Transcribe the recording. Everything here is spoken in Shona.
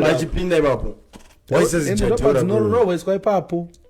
vachipinda ipapo waisezijadhora ipapo